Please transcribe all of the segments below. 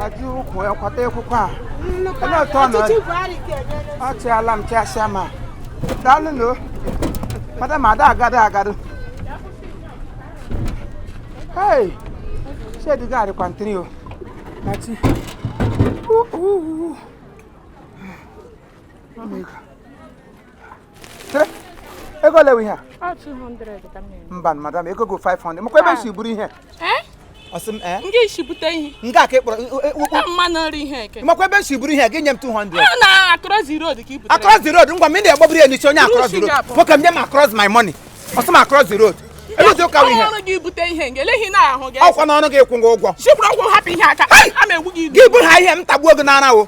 ajụ ụkwụ ya kwata ekwukwa a onye ọtọ nọ ọchịala m chasịa ma daalụ nụ madam ada agado agado hei shedi gaadị kwantiri o nachi uhu mama ego ego ole ihe a mba madam ego go 500 makwa ebe si buru ihe nke isi bute ihe nke a ka ịkpọrọ makwa ebe si buru ihe gị nye m 200 across the road ngwa m ị na-egbaburu ya n'isi onye across the road nwoke m nye m across my money ọ sị m across the road eluzi ụka ihe ọrụ gị bute ihe nke eleghị na ahụ gị ọ kwa n'ọrụ gị kwụọ gị ụgwọ gị buru ha ihe m tagbuo gị n'arụ o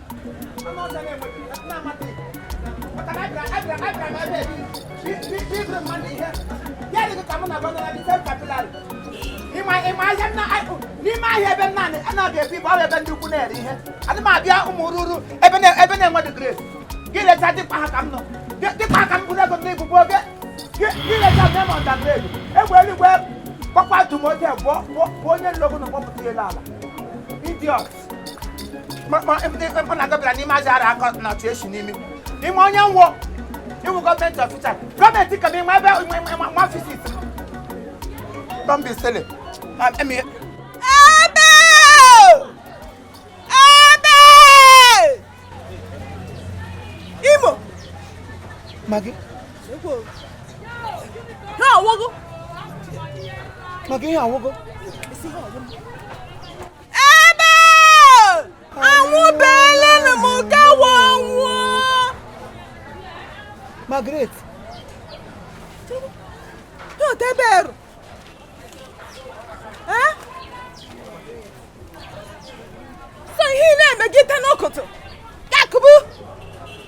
n'ime ahịa ebe naanị a na-abị ebi bụ ebe ndị ukwu na-ere ihe adị m abịa ụmụ ruru ebe na-enwe dị grace gị leta dịkpa ha ka m nọ dịkpa ha ka m bụrụ ego ndị igbugbo oge gị leta nne m ọda grace egbe eluigwe gbakwa dum oge bụ onye nlogo na kpọpụta elu ala idiot mkpụ na gị bịara n'ime ahịa a akọ na ọchụ echi n'ime ime onye wụ iwu government officer government ka n'ime ebe ma fisit don't be silly ebe ebe imo Maggie ihe a wụ gị Maggie ihe a wụ gị ebe awụbeelenụ m gawa ọ wụ Margaret dọta ebe eru so ihe ị na-emegide n'ụkụtụ Yakubu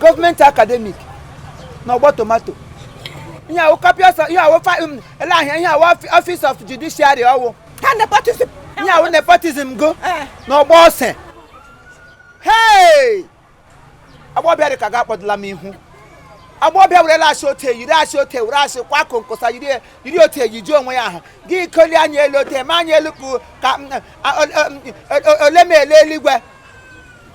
government academic na ọgbọ tomato ihe a wụ copious ihe a wụ um, ele ahịa ihe a wụ office of judiciary ọ wụ ihe a wụ nepotism gị eh. na ọgbọ ose hei agbọbịa dị ka gị akpọdụla m ihu agbọbịa were lash o tee yiri asị o tee were asị kwa konkosa yiri yiri o tee yiji onwe ya ahụ gị koli anya elu o tee ma anya elu ka mm, mm, ole m ele eluigwe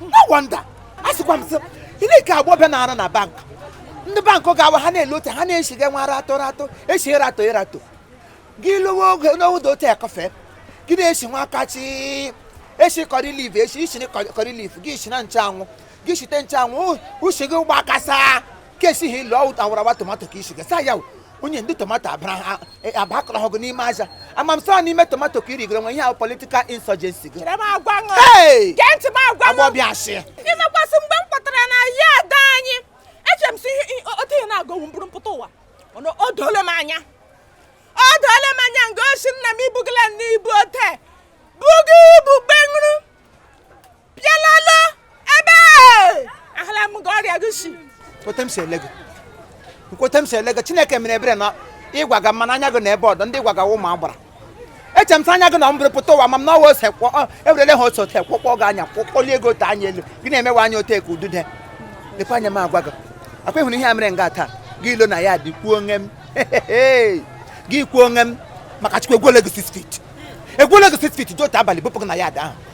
no wonder asịkwa m sị i lee nke agbọbịa na-arụ na bank ndị bank gawa ha na-ele otu ha na-eshiga nwa ara atọ ratọ eshi ịratọ ịratọ gị lụwa oge n'oge otu ya kọfee gị na-eshi nwa aka chi eshi curry leaf eshi ishi curry leaf gị shi na nchanwụ gị shite nchanwụ ushi gị agbakasaa ka esighị ilu ọ wụ awarawa tomato ka i shigasa ya onye ndị tomato abakọrọ ọgụ n'ime aja amam so n'ime tomato ka irigoro nwe ihe ahụ political insurgency gị agbọbịasị imekwasị mgbe m kpọtara na ya ada anyị eche m sị otu ihe na-aga wụ mburu pụta ụwa o doole m anya o doole m anya nga osi nna m ibugala n'ibu ote bugo ibu gbenwuru bịalala ebe ahụla m gị ọrịa gị si ote m si ele gị nkwote m si ele gị chineke mere ebere na ịgwaga mmanụ anya gị na ebe ọdọ ndị ịgwaga ụmụ agbara eche m sị anya gị na mburu pụta ụwa ma m na ọ wụ ose kwọ ọ, ewerele ha ose ote kwọkpọ gị anya kwọkpọlie ego ote anya elu gị na-emewe anya ote ka udude lekwa anya m agwa gị akwa ịhụrụ ihe a mere nga taa gị ilo na ya dị kwuo onwe m gị kwuo onwe m maka chukwu egwuole gị 6 feet egwuole gị 6 feet dị otu abalị bụpụ gị na ya dị ahụ